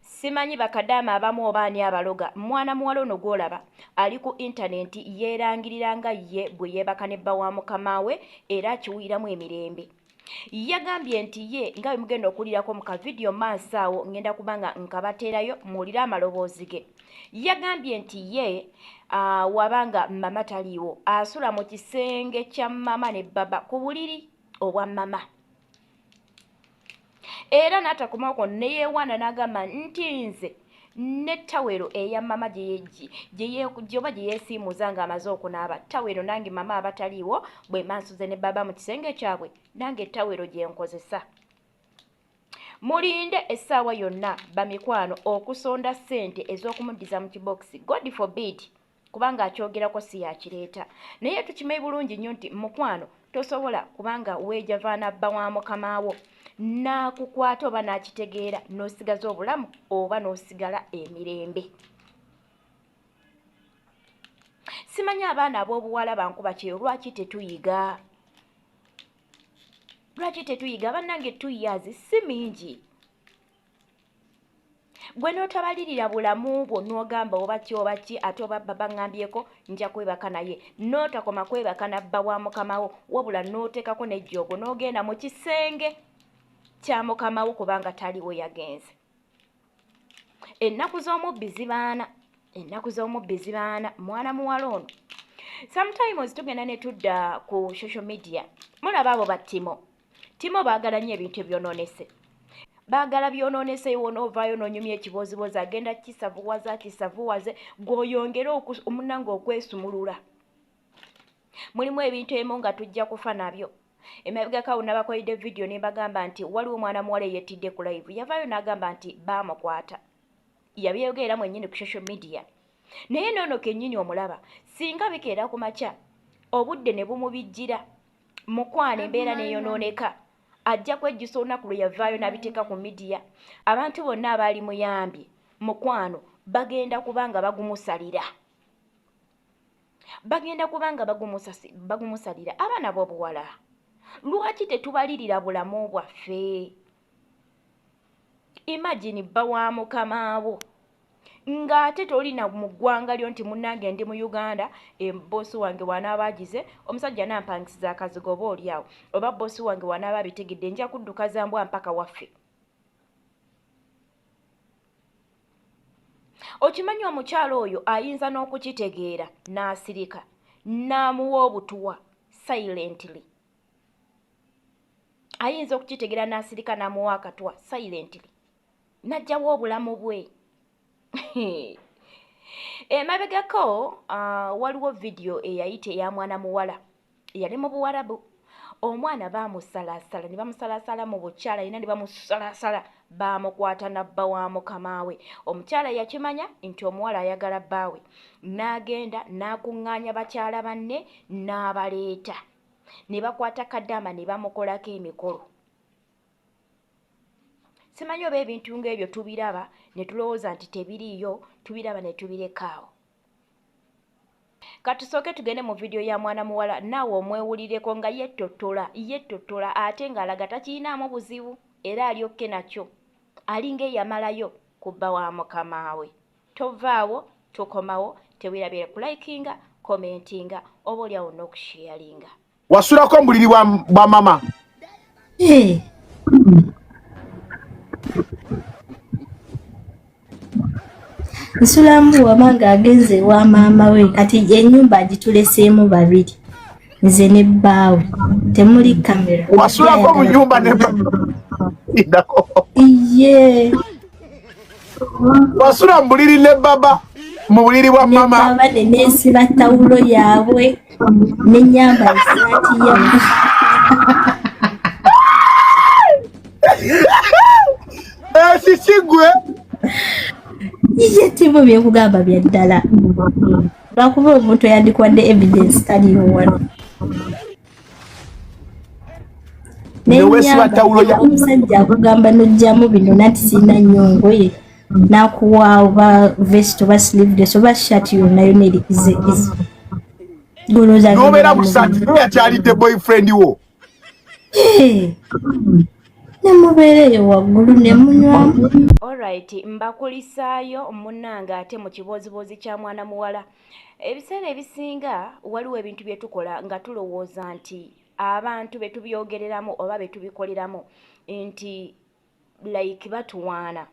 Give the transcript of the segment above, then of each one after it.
Simanyi bakadaama abamu oba ani abaloga, mwana muwala ono gw'olaba ali ku intanenti yeerangirira nga ye bwe yeebaka ne bba wa mukama we era akiwuliramu emirembe. Yagambye nti ye nga bwe mugenda okuwulirako mu kavidiyo maaso awo ng'enda kuba nga nkabateerayo muwulire amaloboozi ge. Yagambye nti ye ah, waba nga mama taliiwo asula mu kisenge kya mama ne baba ku buliri obwa mama. era n'atakomako ne yeewaana n'agamba nti nze ne tawero eya mama gyoba gye yeesiimuza ng'amaze okunaaba tawero nange mama abataliiwo bwe mansuze ne baba mu kisenge kyabwe nange tawero gye nkozesa mulinde essaawa yonna bamikwano okusonda ssente ez'okumuddiza mu kibokisi god forbid kubanga akyogerako si yakireeta naye tukimanyi bulungi nnyo nti mukwano tosobola kubanga weeja vaana bba wa mukama wo n'akukwata oba n'akitegeera n'osigaza obulamu oba n'osigala emirembe simanyi abaana ab'obuwala bankuba kyeyo lwaki tetuyiga lwaki tetuyiga abannange two years si mingi gwe n'otabalirira bulamu bwo n'ogamba oba ki oba ki ate oba baba ŋŋambyeko nja kwebaka naye n'otakoma kwebaka na bba wa mukamawo wabula n'oteekako n'ejjoogo n'ogenda mu kisenge kya mukamawo kubanga taliwo yagenze ennaku z'omubbi zibaana ennaku z'omubbi zibaana mwana muwala ono sometimes tugenda ne tudda ku social media mulaba abo battimo timo baagala nnyo ebintu ebyonoonese baagala byonoonese wonovaayo nonyumya ekiboozibozi agenda kisavuwaza akisavuwaze gweoyongere omunanga okwesumulula mulimu ebintu emu nga tujja kufa nabyo emabegakawo nabakolede vidiyo nebagamba nti waliwo omwana muwala eyettidde ku live yavaayo nagamba nti baamukwata yabyogeera mwenyini ku social media naye noono kenyini omulaba singa bikeera ku makya obudde ne bumubijjira mukwano embeera neyonooneka ajja kwejjusa olunaku lwe yavaayo n'abiteeka ku midiya abantu bonna abaali muyambye mukwano bagenda kuba nga bagumusalira bagenda kuba nga bagumusalira abaana b'obuwala lwaki tetubalirira bulamu bwaffe imagine bba wa mukamaawo ng'ate toli na mu ggwanga lyo nti munnange ndi mu uganda emboosi wange wanaaba agize omusajja nampangisiza akazigo oba oli awo oba bboosi wange wanaaba abitegedde nja kudduka za mbwa mpaka waffe okimanyi omukyalo oyo ayinza n'okukitegeera n'asirika n'amuwa obutuwa silently ayinza okukitegera n'asirika n'amuwa akatwa silently n'ajjawo obulamu bwe emabegako uh, waliwo vidiyo eyayita eya mwana muwala yali mu buwarabu omwana bamusalaasala ne bamusalaasala mu bukyala yina ne bamusalaasala baamukwata nabba wa mukamaawe omukyala yakimanya nti omuwala ayagala bbaawe n'agenda n'akuŋŋaanya bakyala banne n'abaleeta ne bakwata kadaama ne bamukolako emikolo simanyi oba ebintu ng'ebyo tubiraba ne tulowooza nti tebiriiyo tubiraba ne tubirekaawo katusooke tugende mu vidiyo ya mwana muwala naawe omwewulireko nga yettottola yettottola ate ng'alaga takiyinaamu buzibu era alyokke nakyo alinga eyamalayo kubba wa mukamaawe Tovaawo, tokomawo, tewerabyera ku likinga, commentinga, oba olyawo n'okusheyalinga. Wasulako omubuliri bwa, bwa mama. Hey. Eh. nsulamu wama ng'agenze ewa maama we kati enyumba agituleseemu babiri nze ne bbaawe temuli kamera wasulako mu nyumba ne iye wasula mu buliri ne baba mu buliri bwa mama baba ne nesiba tawulo yaabwe ne nyamba esaati ya ekikigwe iye timu byekugamba bya ddala lwakuba omuntu yandikwadde evidence taliiwo wano omusajja akugamba nojjamu bino nati sirina nnyo ngoye nakuwa oba vest oba sleeveless oba shat yonna yona erikize nobeera busati naye akyalidde boyfriend wo eh. nemubeera eyo waggulu nemunywamu olrit mbakulisaayo munange ate mu kibooziboozi kya mwana muwala ebiseera ebisinga waliwo ebintu bye tukola nga tulowooza nti abantu be tubyogereramu oba be tubikoleramu nti like batuwaana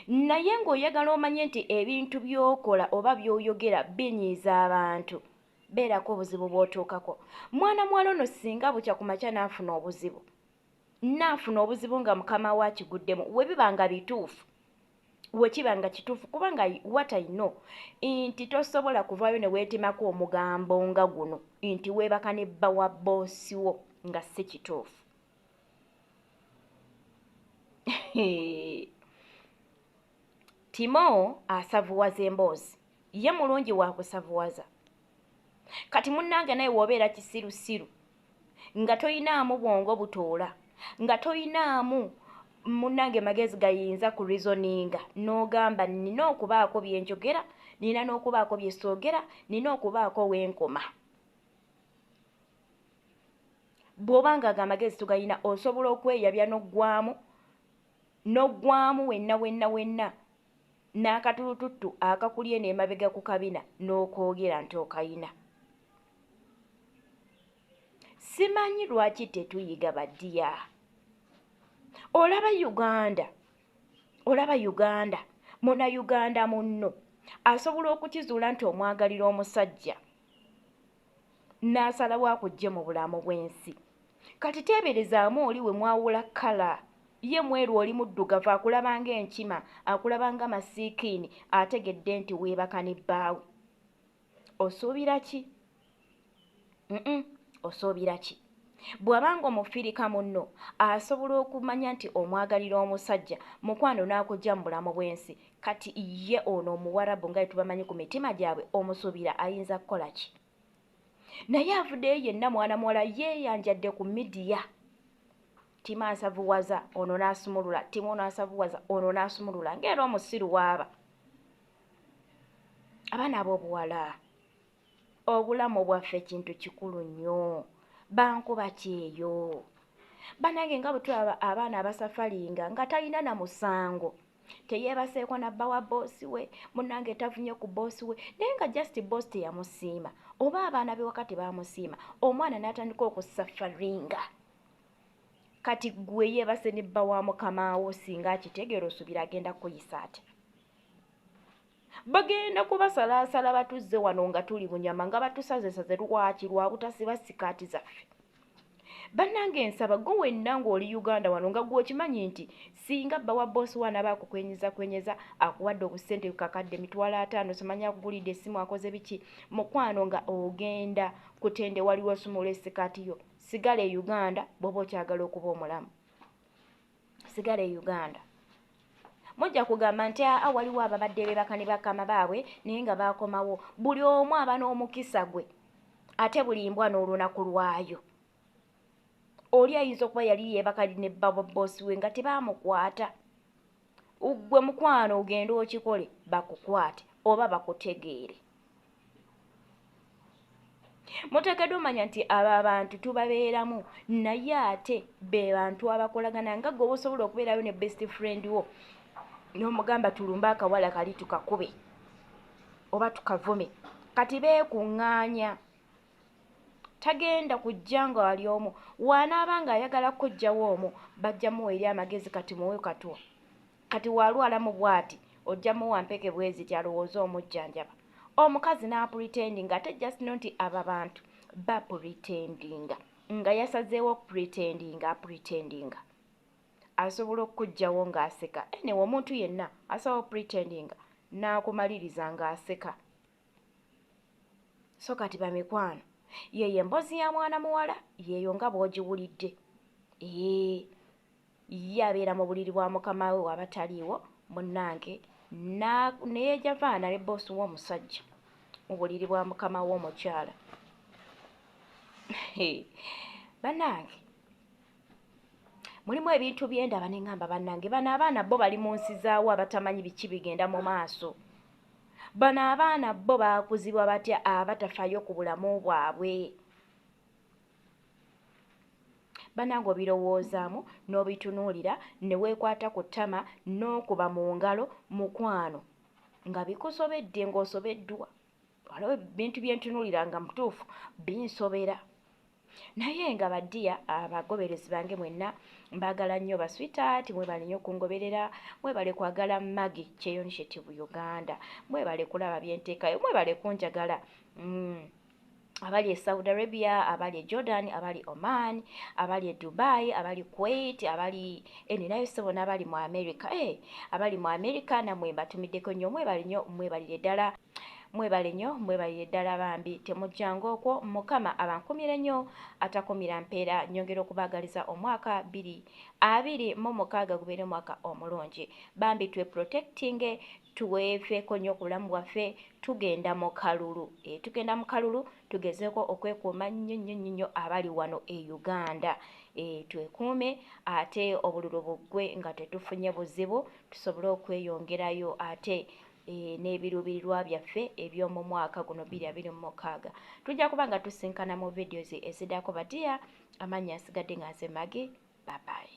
naye ng'oyagala omanye nti ebintu by'okola oba by'oyogera binyiiza abantu beerako obuzibu bw'otuukako mwana muwala ono singa bukya ku makya n'afuna obuzibu naafuna obuzibu nga mukama we akiguddemu we biba nga bituufu wekiba nga kituufu kubanga what i know nti tosobola kuvaayo ne weetemako omugambo nga guno nti weebaka ne bba wa boosi wo nga si kituufu timo asavuwaza emboozi ye mulungi wakusavuwaza kati munnange naye wobeera kisirusiru nga toyinaamu bwongo butoola nga toyinaamu munange magezi gayinza ku reasoninga n'ogamba nina okubaako byenjogera nina n'okubaako byesoogera nina okubaako wenkoma bw'oba nga ago amagezi tugalina osobola okweyabya n'oggwamu n'oggwamu wenna wenna wenna N'akatulututtu akakulye n'emabega ku kabina n'okoogera nti okayina. Simanyi lwaki tetuyiga ba ddiya. Olaba Uganda, olaba Uganda, Munayuganda munno asobola okukizuula nti omwagalira omusajja. n'asalawo akujje mu bulamu bw'ensi kati teeberezaamu oli we mwawula kkala ye mweru oli muddugavu akulaba ng'enkima akulaba nga masiikiini ategedde nti weebaka ne bbaawe osuubira ki osuubira ki Bw'aba ng'omufirika munno asobola okumanya nti omwagalira omusajja mukwano n'akujja mu bulamu bw'ensi, kati ye ono omuwarabu nga etubamanyi ku mitima gyabwe omusuubira ayinza kukola ki? Naye avuddeyo yenna mwana muwala yeeyanjadde ku midiya ttimu asavuwaza ono n'asumulula ttimu ono asavuwaza ono n'asumulula ng'era omusiru waaba abaana ab'obuwala obulamu bwaffe kintu kikulu nnyo bankuba kyeyo banange nga bwe tulaba abaana abasafalinga nga talina na musango teyeebaseeko nabba wa boosi we munange tavunye ku boosi we naye nga just boosi teyamusiima oba abaana be wakati baamusiima omwana n'atandika okusafaringa kati gwe yeebase ne bba wa mukama wo singa akitegeera osuubira agenda kuyisa atya Bagenda kubasalaasala batuzze wano nga tuli bunyama nga batusazesaze lwaki lwa butasiba sikaati zaffe. Bannange nsaba gwe wenna ng'oli Uganda wano nga gwe okimanyi nti singa bba wa bboosi wo anaaba akukwenyezakwenyeza akuwadde obusente kakadde mitwalo ataano simanya akugulidde essimu akoze biki mukwano nga ogenda kutende waliwo osumula esikaati yo sigala e Uganda bw'oba okyagala okuba omulamu. sigala e uganda mujja kugamba nti aa waliwo ababadde bebaka ne bakama baabwe naye nga bakomawo buli omu aba n'omukisa gwe ate buli mbwa n'olunaku lwayo oli ayinza okuba yali yebaka ne babobosi we nga tebamukwata gwe mukwano ogende okikole bakukwate oba bakutegeere muteekeddwa omanya nti abo abantu tubabeeramu naye ate be bantu abakolagana nga gwe oba osobola okubeerayo ne best friend wo n'omugamba tulumbe akawala kali tukakube oba tukavume kati beekuŋŋaanya tagenda kujja nga wali omu waanaaba ng'ayagala kukojjawo omu bajja muwa eri amagezi kati muwe katwa Kati walwala mu bwati ojja muwa mpeke bweziti alowooze omujjanjaba. Omukazi n'apretendinga ate just know nti abo abantu bapretendinga nga yasazeewo okupretendinga apretendinga. Asobola okukuggyawo ng'aseka anyway omuntu yenna asobola okupretendinga n'akumaliriza ng'aseka. so kati bamikwano yeyo embozi ya mwana muwala yeyo nga bwogiwulidde ee ye abeera mu buliri bwa mukama we wabataliiwo munange neyejavaana ne boosi w'omusajja mu buliri bwa mukama w'omukyala banange mulimu ebintu byendaba neŋamba bannange bano abaana bo bali mu nsi zaawo abatamanyi biki bigenda mu maaso bano abaana bo baakuzibwa batya abatafayo ku bulamu bwabwe banange obirowoozaamu n'obitunuulira ne weekwata ku ttama n'okuba mu ngalo mukwano nga bikusobedde ng'osobeddwa waliwo ebintu bye ntunuulira nga mutuufu binsobera naye nga badiya abagoberezi bange mwenna mbaagala nnyo baswitaati mwebale nnyo okungoberera mwebale kwagala magi kyeyonishetivu uganda mwebale kulaba byenteekayo mwebale kunjagala mm. abali e saudi arabia abali e jordan abali oman abali e dubai abali kuwait abali eninayo eh, sebona abali mu america e abali mu america namwe mbatumiddeko nnyo mwebale nnyo mwebalire ddala Mwebale nyo mwebalire ddala bambi temujjanga okwo mukama abankumire nyo atakumira mpeera nyongera okubagaliza omwaka biri abiri mu mukaaga gubeere omwaka omulungi bambi twe protectinge tweveko nyo kubulamu bwaffe tugenda mu kalulu e tugenda mu kalulu tugezeko okwekuuma nyo nyo nyo nyo abali wano e Uganda e twekuume ate obululu buggwe nga tetufunye buzibu tusobole okweyongerayo ate n'ebiruubirirwa byaffe eby'omu mwaka guno biri abiri mu mukaaga tujja kuba nga tusinkana mu videos ezidako badiya amannya asigadde nga nze magi babayi